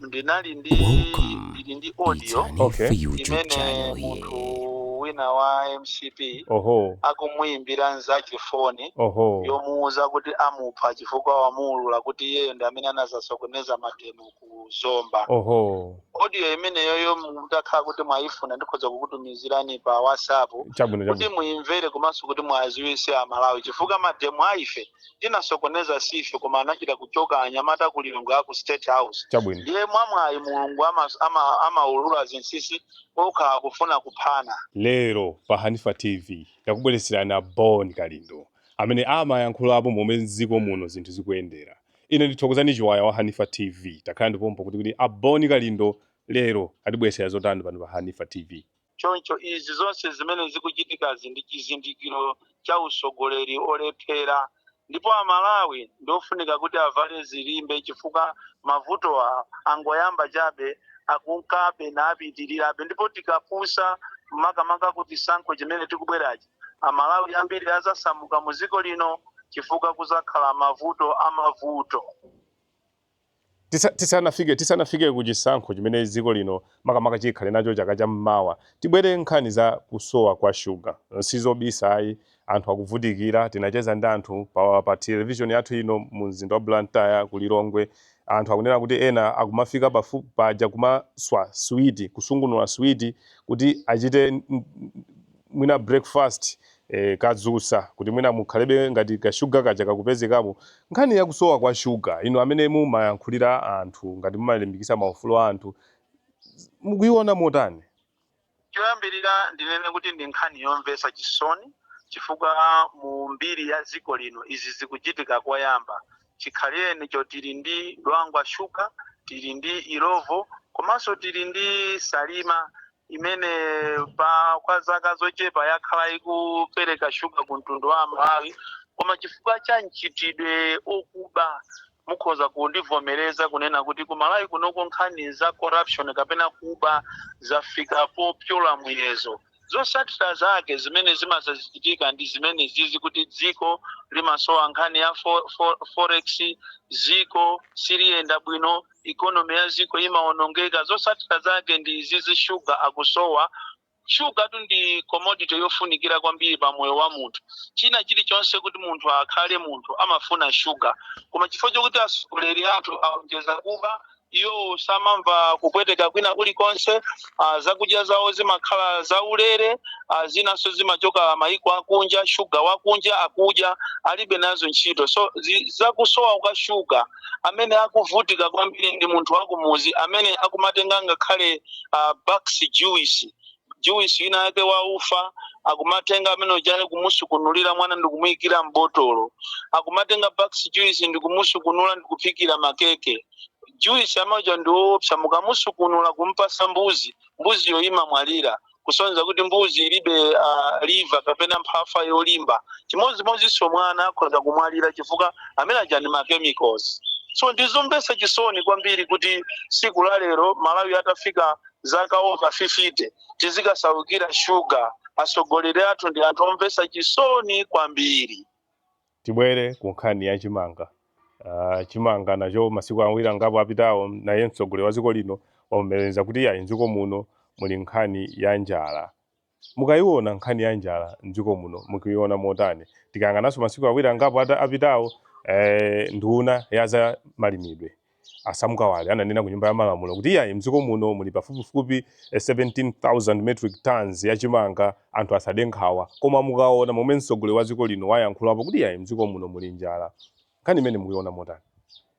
ndinali ndi ndili ndi audio imene munthu wina wa mcp akumuyimbira nzake foni yomuwuza kuti amupha chifukwa wamuwulula kuti iyeyo ndi amene anazasokoneza mademo ku zomba audio imeneyoyo mutakhala kuti mwayifuna ndikhoza kukutumizirani pa whatsapp kuti muyimvere komanso kuti mwaziwise amalawi chifukwa mademo aife tinasokoneza sife koma anachita kuchoka anyamata ku lilongwe aku state house Chabwino. ndiye mwamwayi mulungu amaulula zinsisi okha akufuna kuphana lero pa hanifa tv ndakubweretserani a bon kalindo amene amayankhulapo momwe mdziko muno zinthu zikuyendera ine ndi Thokozani Chiwaya wa hanifa tv takhalani pompo kuti kuti a bon kalindo lero atibweretsera zotani pano pa hanifa tv Choncho izi zonse zimene zikuchitikazi ndi chizindikiro cha utsogoleri olephera ndipo a Malawi ndi ofunika kuti avale zilimbe chifukwa mavutowa angoyamba chabe, akunkabe napitirirabe ndipo tikapusa makamaka ku chisankho chimene chikubwerachi, a Malawi ambiri azasamuka mu dziko lino chifukwa kuzakhala mavuto a mavuto. Tisanafike ku chisankho chimene dziko lino makamaka chikhale nacho chaka cha mmawa, tibwere nkhani za kusowa kwa shuga. Sizobisa ayi, anthu akuvutikira. Tinacheza ndi anthu pa television yathu ino mu mzinda wa Blantyre, ku Lilongwe. Anthu akunena kuti ena akumafika paja kumaswa sweet, kusungunula sweet kuti achite. mwina breakfast kadzutsa kuti mwina mukhalebe ngati ka sugar kaja kakupezekamo nkhani yakusowa kwa sugar inu amene mumayankhulira anthu ngati mumalimbikisa maufulu a anthu mukuiona motani choyambirira ndinene kuti ndi nkhani yomvetsa chisoni chifukwa mu mbiri ya dziko lino izi zikuchitika koyamba Chikhalirenicho tili ndi Dwangwa sugar, tili ndi Illovo komanso tili ndi Salima imene pa kwa zaka zochepa yakhala ikupereka sugar ku mtundu wa Amalawi koma chifukwa cha mchitidwe okuba mukhoza kundivomereza kunena kuti ku Malawi kunoko nkhani za corruption kapena kuba zafika popyola muyezo. Zotsatira zake zimene zimazachitika ndi zimenezizi kuti dziko limasowa nkhani ya forex, dziko siliyenda bwino, economy ya dziko imaonongeka. Zotsatira zake ndi izizi sugar akusowa. Sugar tu ndi commodity yofunikira kwambiri pa moyo wa munthu. China chilichonse kuti munthu akhale munthu amafuna sugar. Koma chifukwa chokuti atsogoleri athu aonjeza kuba, Iwo samamva kupweteka kwina kulikonse. Uh, zakudya zawo zimakhala zaulere. Uh, zinanso zimachoka mayiko akunja, shuga wakunja akudya, alibe nazo ntchito. So zi- zakusowa kwa shuga, amene akuvutika kwambiri ndi munthu wakumuzi amene akumatenga ngakhale uh, box juice juice wina wake wa ufa akumatenga amene ujayo kumusukunulira mwana ndikumuyikira m'botolo akumatenga bax juice ndikumusukunula ndikuphikira makeke juice amaja ndiwoopsa mukamusukunula kumpasa mbuzi mbuziyo imamwalira kusonyeza kuti mbuzi ilibe uh, liver kapena mphafa yolimba chimodzimodzinso mwana akhoza kumwalira chifukwa amene aja ndi machemicals so ndizomvetsa chisoni kwambiri kuti siku la lero malawi atafika zaka over 50 tizikasaukira shuga atsogoleri athu ndi anthu omvetsa chisoni kwambiri tibwere ku nkhani ya chimanga uh, chimanga nacho masiku awiri angapo apitawo naye mtsogoleri wa dziko lino wavomereza kuti iyayi m'dziko muno muli nkhani ya njala Mukayiwona nkhani ya njala m'dziko muno mukuyiwona motani? Tikayang'ananso masiku awiri angapo apitawo nduna ya za malimidwe a Sam Kawale ananena ku nyumba ya malamulo kuti iyayi m'dziko muno muli pafupifupi 17,000 metric tonnes ya chimanga anthu asade nkhawa. Koma mukawona momwe mtsogoleri wa dziko lino wayankhulapo kuti iyayi m'dziko muno muli njala nkhani imeneyi mukuyiwona motani?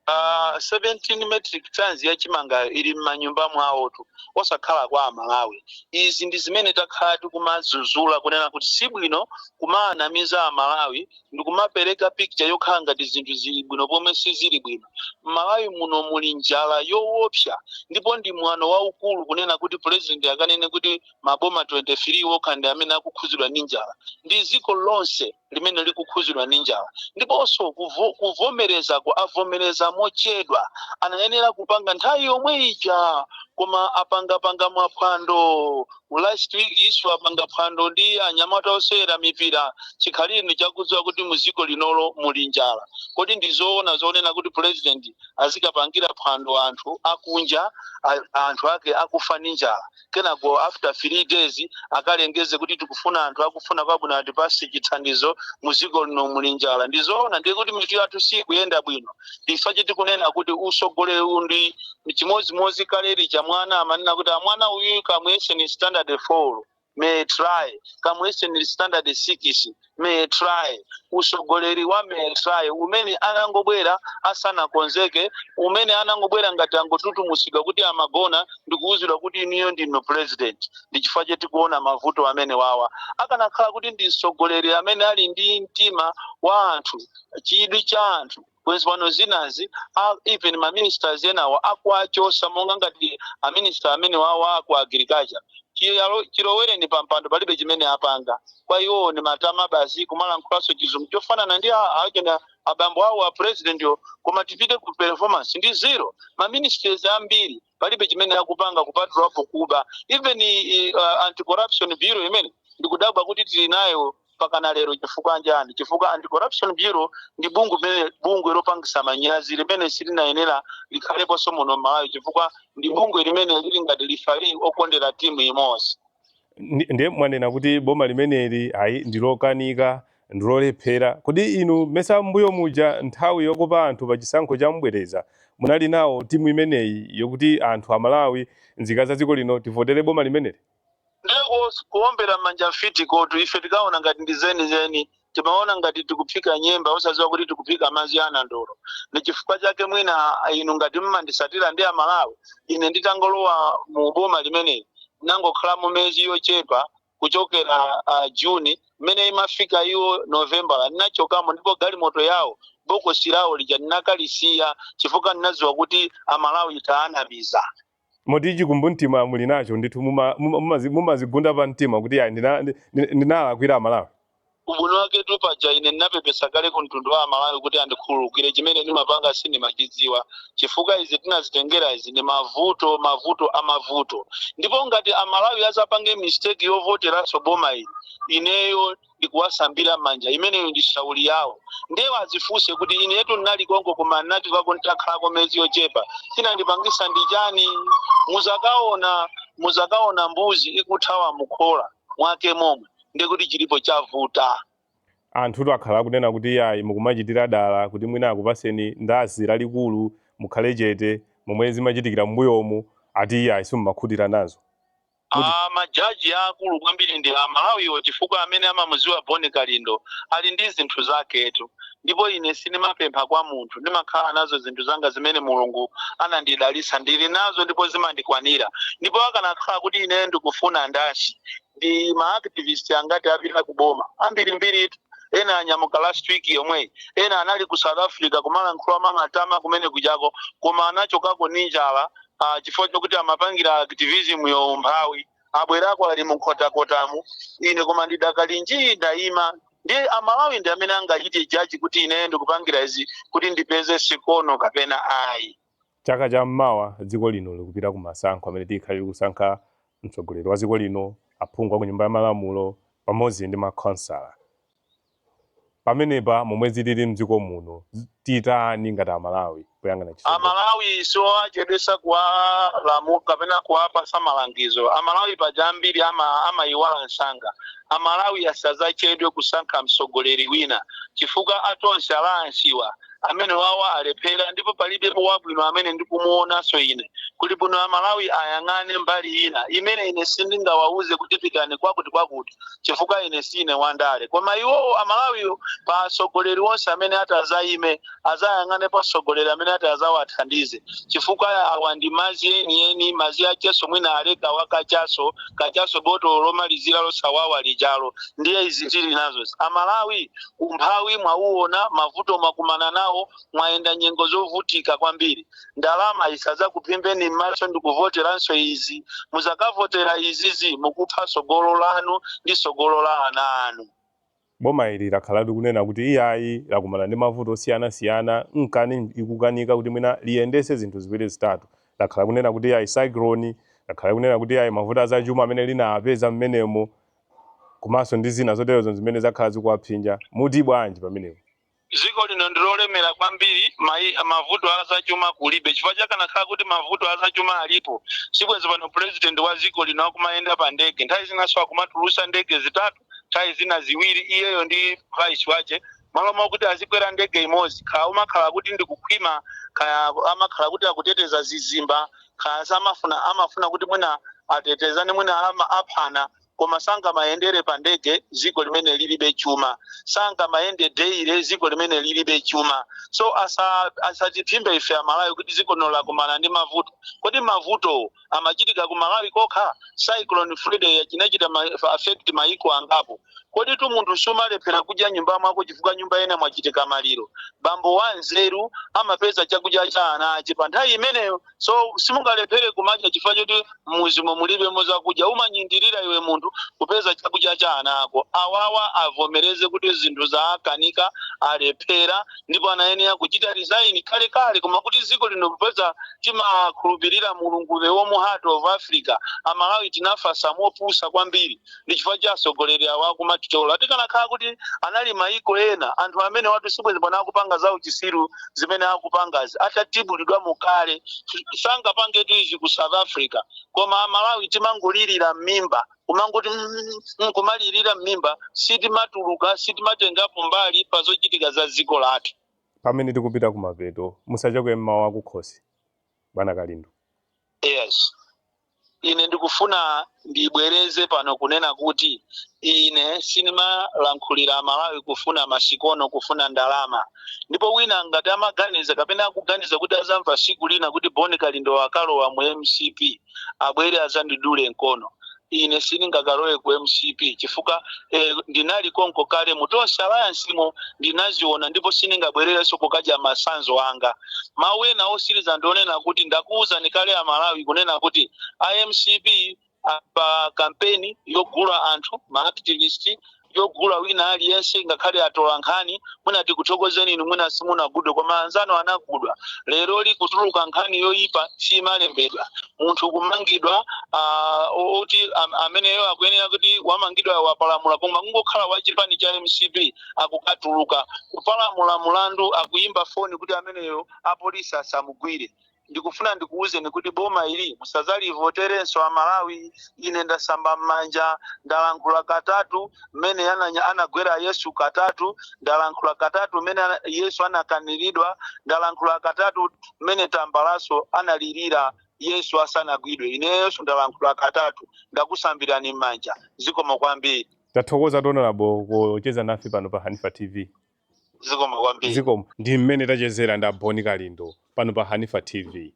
Uh, 17 metric tons ya chimangayo ili m'manyumba mwawotu osakhala kwa amalawi izi ndi zimene takhala tikumazuzula kunena kuti si bwino kumaanamiza amalawi ndi kumapereka picture yokhala ngati zinthu zili bwino pomwe sizili bwino m'malawi muno muli njala yoopsa ndipo ndi mwano waukulu kunena kuti president akanene kuti maboma 23 okha ndi amene akukhudzidwa ndi njala ndi dziko lonse limene likukhuzidwa ndi njala ndiponso kuvo, kuvomerezaku avomereza mochedwa anayenera kupanga nthawi yomwe ija koma apangapanga maphwando last week isu apanga phwando ndi anyamata osewera mipira chikhalirenicho akudziwa kuti mu dziko linolo muli njala kodi ndi zoona zonena kuti president azikapangira phwando anthu akunja a- anthu ake akufa ndi njala kenako after three days akalengeze kuti tikufuna anthu akufuna kwabwino atipase chithandizo muziko lino muli njala ndizoona ndiye kuti mitu yathu sikuyenda bwino ndi chifukwa chake tikunena kuti usogoleri uwu ndi chimodzimodzi kale lija mwana amanena kuti ah mwana uyu kamuyeseni standard four may try kamuyeseni standard six may try usogoleri wa may try umene anangobwera asanakonzeke umene anangobwera ngati angotutumusidwa kuti amagona ndikuwuzidwa kuti inuyo ndinu president ndi chifukwa chake tikuona mavuto amenewawa akanakhala kuti ndi msogoleri amene ali ndi mtima wa anthu chidwi cha anthu bwenzi pano zinazi a- even ma ministers enawo akuwachosa monga ngati a minister amene wawa aku agriculture Chiyalo- chilowereni pa mpando palibe chimene apanga kwa iwowo ni matama basi kumalankhulaso chizungu chofanana ndi a- achina abambo awo a presidentyo koma tipite ku performance ndi zero ma ministers ambiri palibe chimene akupanga kupatulapo kuba even i- uh, anti corruption bureau imene ndikudabwa kuti tili nayo pakana lero chifukwa nchani chifukwa anti corruption bureau ndi bungwe limene bungwe lopangisa manyazi limene silinayenera likhaleponso muno m'malawi chifukwa ndi bungwe limene lili ngati lifali okondera timu imodzi Ndi- ndiye mwanena kuti boma limeneli ayi ndilokanika ndilolephera. Kodi inu mesa mbuyo muja nthawi yokopa anthu pa chisankho cha mbwereza munali nawo timu imeneyi yokuti anthu amalawi nzika za dziko lino tivotere boma limeneli? Ndeko kuombera mmanja mfitikotu ife tinkaona ngati ndi zenizeni timaona ngati tikuphika nyemba osaziwa kuti tikuphika madzi a nandolo ndichifukwa chake mwina inu ngati mumandisatira ndi amalawi ine nditangolowa mu boma limeneli ndinangokhalamo miyezi yochepa kuchokera uh, june mmene imafika iyo novembala ndinachokamo ndipo galimoto yawo bokosi lawo lija ndinakalisiya chifukwa ndinadziwa kuti amalawi taanamiza moti chikumbumtima muli nacho ndithu mumazigunda pa mtima kuti ayi ndinalakwira amalawi Ubwino waketu paja ine ndinapepesa kale ku mtundu wa amalawi kuti andikhululukire chimene ndimapanga sindimachidziwa chifukwa izi tinazitengera izi ndi mavuto mavuto amavuto ndipo ngati amalawi azapange mistake yovoteranso boma ili ineyo ndikuwasambira mmanja imeneyo ndi shauli yawo nde azifunse kuti inetu ndinali konko koma ndinatikako nditakhalako miyezi yochepa chinandipangisa ndi chani muzakaona muzakaona mbuzi ikuthawa mukhola mwake momwe ndiye kuti chilipo chavuta anthutu akhala akunena kuti iyayi mukumachitira dala kuti mwina akupaseni ndashi lalikulu mukhale chete momwe zimachitikira m'mbuyomu ati iyayi simumakhutira nazo Kuti- Ah, majaji aakulu kwambiri ndi amalawiwo chifukwa amene amamuziwa boni kalindo ali ndi zinthu zaketu ndipo ine sindimapempha kwa munthu ndimakhala nazo zinthu zanga zimene mulungu anandidalisa ndili nazo ndipo zimandikwanira ndipo akanakhala kuti ine ndikufuna ndashi ndi ma activist angati apita ku boma ambirimbiritu ena anyamuka last week yomweyi ena anali ku south africa kumalankhula mwamatama kumene kujako koma anachokako ndi njala uh, chifukwa chokuti amapangira activism yo umphawi abwerako ali munkhotakotamu ine koma ndidakali njii ndayima ndiye amalawi ndi amene angachite jaji kuti ine ndikupangira izi kuti ndipeze sikono kapena ayi Chaka cha mawa dziko lino likupita ku masankho amene tikhale tikusankha mtsogoleri wa dziko lino, aphungu a ku nyumba ya malamulo pamodzi ndi makhonsala. Pamenepa momwe zilili mdziko muno titani ngati a Malawi poyang'ana chitsogolo? A Malawi siowachedwetsa kuwalamula kapena kuwapatsa malangizo. A Malawi paja ambiri amaiwala msanga. A Malawi asadzachedwe kusankha mtsogoleri wina chifukwa a Tonse Alliance wa. amene wawa alephera ndipo palibepo wabwino amene ndikumuonanso ine kuti bwino amalawi ayang'ane mbali ina imene ine sindingawauze kuti pitani kwakuti kwakuti chifukwa ine siine wandale koma iwowo amalawi pa atsogoleri onse amene ati azayime azayang'ane pa atsogoleri amene ati azawathandize chifukwa awa ndi mazi enieni mazi acheso mwina aleka wakachaso kachaso botolo lomalizira losawawa lijalo ndiye izi tili nazo amalawi Umphawi mwauona, mavuto mwakumana nawo, mwayenda nyengo zovutika kwambiri. Ndalama isadzakuphimbeni m'maso ndikuvoteranso izi. Muzakavotera izizi mukupha tsogolo lanu ndi tsogolo la ana anu. Boma ili lakhalatu likunena kuti iyayi lakumana ndi mavuto osiyana siyana nkani ikukanika kuti mwina liyendese zinthu ziwiri zitatu. Lakhala kunena kuti iyayi cyclone, lakhala kunena kuti iyayi mavuto azachuma amene linapeza m'menemo komanso ndi zina zoterozo zimene zakhala zikuwapsinja. Muti bwanji pamenepo? Dziko lino ndi lolemera kwambiri, mavuto a zachuma kulibe chifukwa chakanakhala kuti mavuto a zachuma alipo sibwenzi pano president wa dziko lino akumayenda pa ndege nthawi zinanso akumatulutsa ndege zitatu nthawi zina ziwiri iyeyo ndi vice wache malo mwakuti azikwera ndege imodzi kaya umakhala kuti ndi kukhwima kaya amakhala kuti akuteteza zizimba kaya samafuna amafuna kuti mwina atetezane mwina aphana koma sangamayendere pa ndege ziko limene lilibe chuma sangamayende daily ziko limene lilibe chuma so asa- asatiphimbe ife amalawi kuti ziko lino lakumana ndi mavuto kodi mavuto amachitika ku malawi kokha cyclone Freddy inachita affect maiko angapo Koditu munthu sumalephera kudya nyumba mwako chifukwa nyumba ina mwachitika maliro? Bambo wa nzeru amapeza chakudya cha ana ache pa nthawi imeneyo. So simungalephere kumadya chifukwa choti mmuzimo mulibemo zakudya. Umanyindirira iwe munthu kupeza chakudya cha ana ako. Awawa avomereze kuti zinthu zawakanika, alephera ndipo anayenera kuchita resign kale kale koma kuti ziko lino kupeza timakhulupirira mulungu the warm heart of Africa. Amalawi tinafasa mopusa kwambiri. ndi chifukwa cha atsogoleri awa akumatitola tikanakhala kuti anali maiko ena anthu amenewatu sibwezi pano akupanga za uchisiru zimene akupangazi atatibulidwa mukale sangapangetu izi ku south africa koma amalawi timangolirira m'mimba kumangoti mm, mm, kumalirira m'mimba sitimatuluka sitimatengapo mbali pa zochitika za dziko lathu pamene tikupita kumapeto musachoke mmawu akukhosi bwana kalindo yes Ine ndikufuna ndibwereze pano kunena kuti ine sindimalankhulira Amalawi kufuna masikono, kufuna ndalama. Ndipo wina ngati amaganiza kapena akuganiza kuti azamva siku lina kuti Bon Kalindo wakalowa mu mcp abwere azandidule nkono. Ine sindingakalowe ku mcp chifukwa eh, ndinali konko kale mu Tonse Alliance mo ndinaziona ndipo sindingabwererenso kukadya masanzo anga. Mawu ena osiliza ndionena kuti ndakuuzani kale a Malawi kunena kuti a mcp a pa kampeni yogula anthu ma activist yogula wina aliyense ngakhale atola nkhani mwina tikuthokozeni inu mwina simunagudwe koma anzanu anagudwa leroli kutuluka nkhani yoyipa simalembedwa munthu kumangidwa ah, o- oti am- ameneyo akuyenera kuti wamangidwa wapalamula koma kungokhala wa chipani cha mcp akukatuluka kupalamula mulandu akuyimba foni kuti ameneyo apolisi asamugwire ndikufuna ndikuwuzeni kuti boma ili musazalivoterenso amalawi ine ndasamba m'manja ndalankhula katatu mmene ananya- anagwera yesu katatu ndalankhula katatu mmene ana- yesu anakaniridwa ndalankhula katatu mmene tambalaso analirira yesu asanagwidwe ineyenso ndalankhula katatu ndakusambirani m'manja zikomo kwambiri Tathokoza Honorable kucheza nafe pano pa Hanifa TV. zikomo kwambiri Zikomo ndi mmene tachezera ndi Aboni Kalindo pano pa Hanifa TV.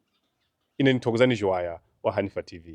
Ine ndi Thokozani Chiwaya wa Hanifa TV.